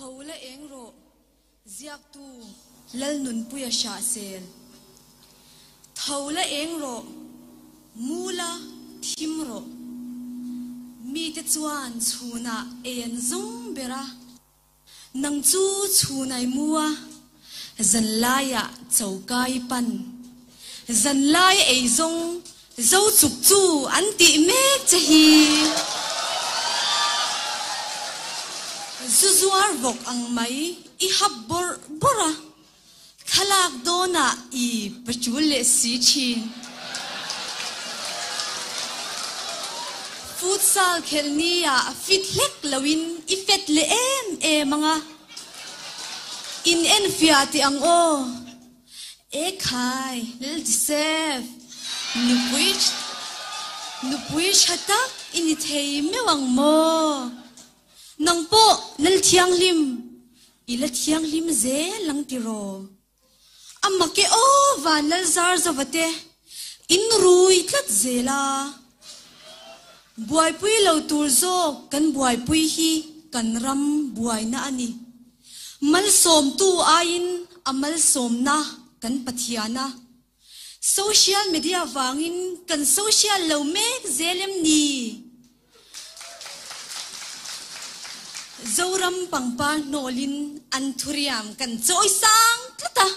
Tho la eng rawh, ziaktu Lalnunpuia Hriahsel. Tho la eng rawh, mu la thim rawh. Mite chuan chhunah ei an zawng ber a. Nang chu chhun ai mu a. zan laia chokai pan zan lai ei zawng zo chuk chu an tih mek che hi zu zuar vawk ang mai i hap bawrh bawrh a thlalak dawn ah i patul leh si thin futsal khelh ni ah fit hlek lo in i fet leh em em ang a. In en fiah tih ang aw. Ekhai, lal ti sep. Nupui, nupui tha tak i ni thei meuh ang maw? Nang pawh lal thianghlim i la thianghlim zel ang ti raw. A mak e aw van Lalzar zova te in rui tlat zel a, buaipui lo tur zawk kan buaipui hi kan ram buaina a ni. Malsawmtu aiin a malsawmna kan Pathiana Social media vangin kan social lo mek zel em ni? Zoram pangpar hnawlin an thuriam kan chawi sang tlat a.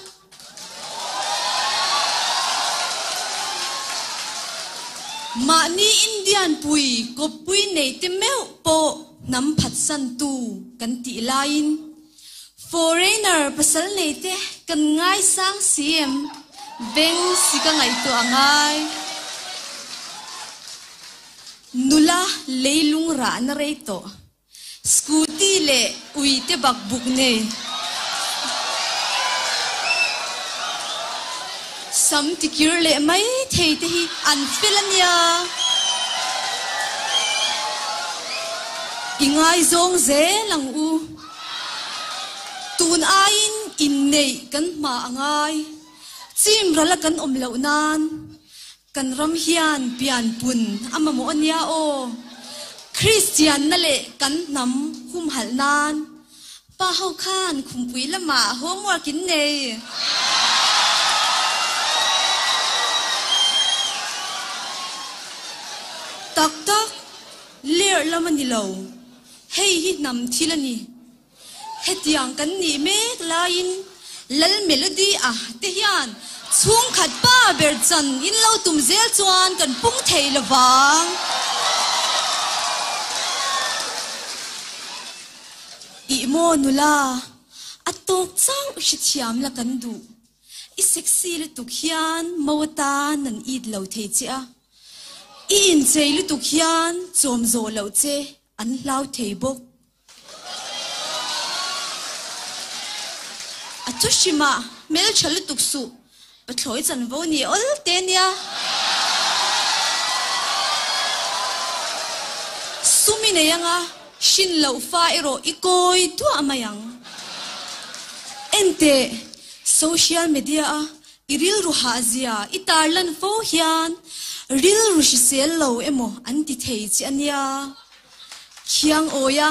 Mahni Indian pui, kawppui neite meuh pawh hnam phatsantu kan tih laiin Foreigner pasal nei te kan ngai sang si em? Beng si ka ngaihtuah a ngai. Nula leilung rah na rei tawh. Scooty leh ui te bak buk nei. Sam tikir leh mai thei te hi an fel a nia. I ngaizawng zel ang u. Tun aiin inneih kan hma a ngai. Chim rala kan awm loh nan kan ram hian pian pun a mamawh a nia aw. Kristianna leh kan hnam humhalh nan pa ho khan khumpui lamah homework in nei. Tak tak lerh lam a ni lo. Hei hi hnam thil a ni. Hetiang kan nih mek laiin Lal Melody a te hian chhungkhat pa ber chan in lo tum zel chuan kan pung thei lo vang. I maw nula, a tawk chau i hrethiam la kan duh. I sexy lutuk hian mau atan an it lo thei che a. I inchei lutuk hian chawm zawh lo che. An hlau thei bawk. A thu hrima hmeltha lutuk suh pa thlawi chanvo ni awl te nia. Sumi nei anga hrin loh fa erawh i kawi duah mai ang. Enteh social media a I rilru hah zia, i tarlan fo hian rilru hrisel lo emaw an ti thei che a nia. Khiang Awia,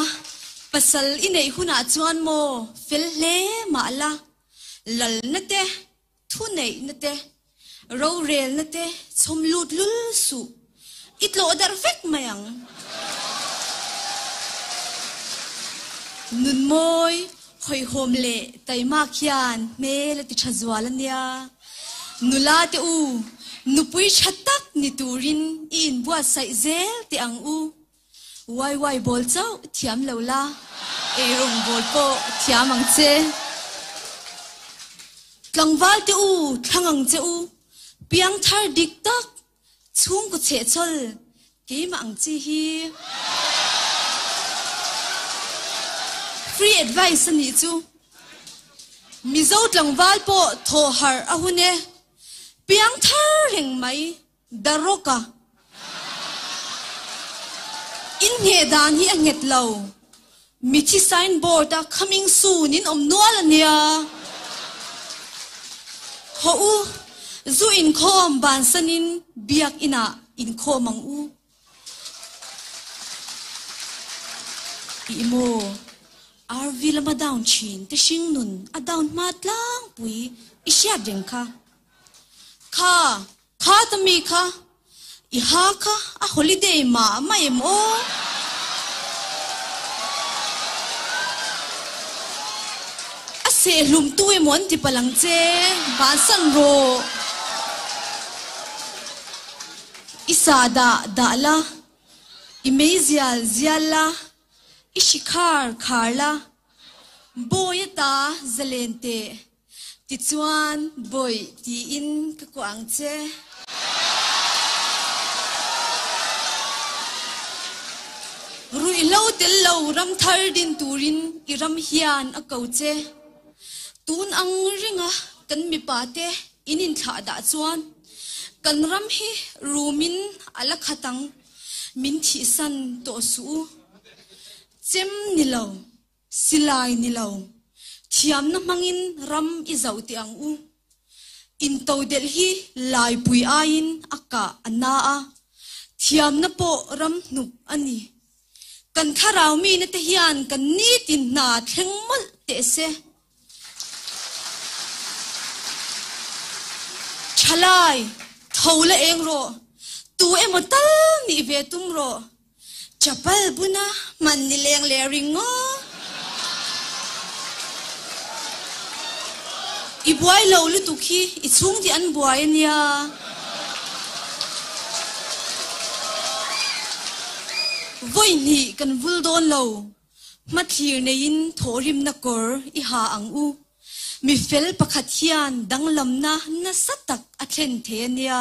pasal i neih hunah chuan maw fel hle mah la, lalna te, thuneihna te, rorelna te chhawm lut lul suh. I tlawh darh vek mai ang. Nunmawi, Khawihhawm leh Taimak hian hmel a ti tha zual a nia. Nula teh u, nupui tha tak ni turin i inbuatsaih zel teh ang u. Waiwai bawl chauh thiam lo la, eirawng bawl pawh thiam ang che. Tlangval teh u, thlang ang che u. Piangthar dik tak Chhungkaw chhehchhawl keimah ang chi hi free advice a nih chu. Mizo tlangval pawh thawh harh a hun e. Piang thar reng mai Daroka inngeh dan hi a nghet lo. Mi chi sign board a coming soon in awm nual a nia. Haw u, zu inkhawm bansan in biak inah inkhawm ang u. Tih maw? RV lam a down thin te hring nun a down hma tlangpui i hriat reng kha. Kha Kha ta mi kha i ha kha a holiday mah a mah em aw. A seh hlum tu emaw an ti palang che bansan rawh. I sa dah dah la, i mei zial zial la, i hri khar khar la, bawi a ta zalen teh. Tichuan, Bawi, tiin ka kuah ang che. Ruihhlo tel lo ram thar din turin i ram hian a ko che. Tun ang ringa kan mipa te in inthlah dah chuan kan ram hi rumin a la khat ang, min thihsan tawh suh u. Chem ni lo. Silai ni lo, thiamna hmangin ram i zauh teh ang u. Intodelh hi Laipui aiin a kah a na a, thiamna pawh ram hnup a ni. Kan thlarau mine te hian kan nitin hna thleng mawlh teh se. Thalai, tho la eng rawh, tu emaw tal nih ve tum rawh. Chapal buna hman ni leng leh ring ngaw. I buai lo lutuk hi i chhung tih an buai a nia. Vawi hnih kan vul dawn lo. Hmathlir neiin thawhrimna kawr i ha ang u. Mifel pakhat hian danglamna nasa tak a thlen thei a nia.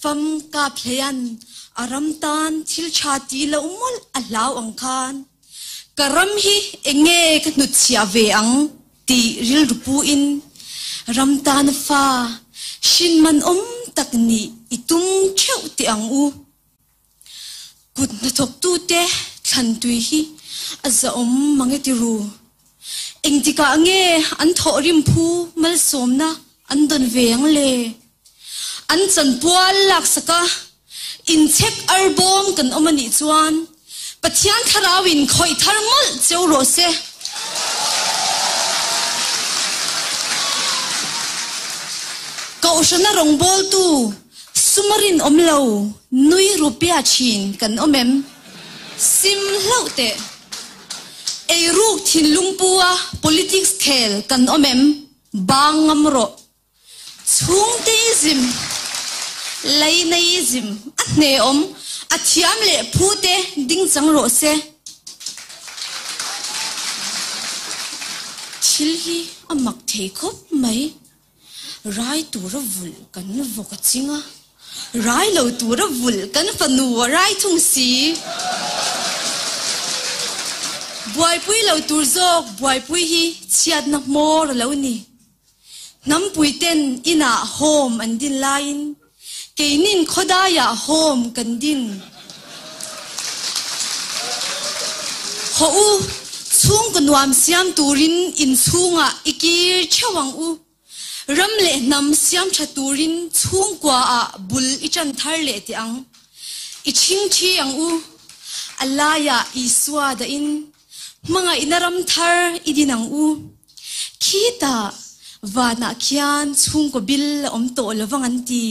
Fam kap hleian a ram tan thil tha ti lo mawlh a hlau ang khan ka ram hi eng nge ka hnut chhiah ve ang tih rilru pu in ram tan a fa hrinman awm tak nih i tum theuh teh ang u Kut hnathawktu te thlan tui hi a zahawm mange ti ru. Engtikah nge an thawh rimphu malsawmna an dawn ve ang le? An chan pual laksaka inchek ar bawm kan awm a nih chuan Pathian thlarau in khawih thar mawlh cheu rawh se. Kohhrana rawngbawltu. Suma rinawm lo nui rupia thin kan awm em? Sim hlauh teh. Ei ruk thin lungpua politics khel kan awm em? Bang ngam rawh. Chhungte i zim, laina i zim a hnehawm a thiam leh phute ding chang rawh se. Thil hi a mak thei khawp mai. Rai tura vulh kan vawk a ching a. Rai lo tura vulh kan fanu a rai thung si. Buaipui lo tur zawk buaipui hi chhiatna hmawr a lo ni. Hnampuiten inah hawm an din laiin. Keinin khawdaiah hawm kan din. Haw u, chhungkaw nuam siam turin inchhungah i kir theuh ang u. Ram leh hnam siam tha turin chhungkuaah bul i tan thar leh teh ang. I chhing thi ang u. A laiah Isua dahin Hmangaihna ram thar i din ang u. Khi ta vanah khian chhungkaw bil a awm tawh lovang an ti.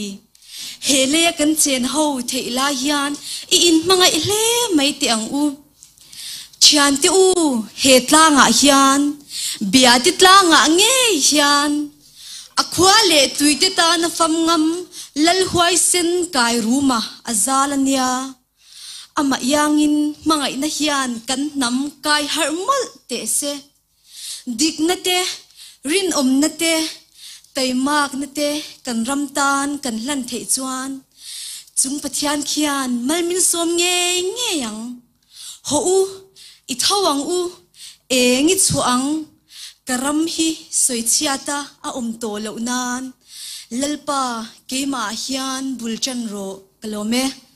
He lei a kan chen ho theih lai hian i in hmangaih hle mai teh ang u. Thiante u he tlangah hian bia te tlangah ngei hian a khua leh tluite tan a fam ngam lal huaisen kai ruma a zal a nia. Amahiangin hmangaihna hian kan hnam kai harh mawlh teh se. Dikna te, rinawmna te, taimakna te kan ram tan kan hlan theih chuan Chung Pathian khian malminsawm ngei ngei ang. Haw u, i tho ang u, eng i chhuah ang, ka ram hi sawi chhiat a a awm tawh loh nan Lalpa keimah hian bul tan rawh ka lawm e.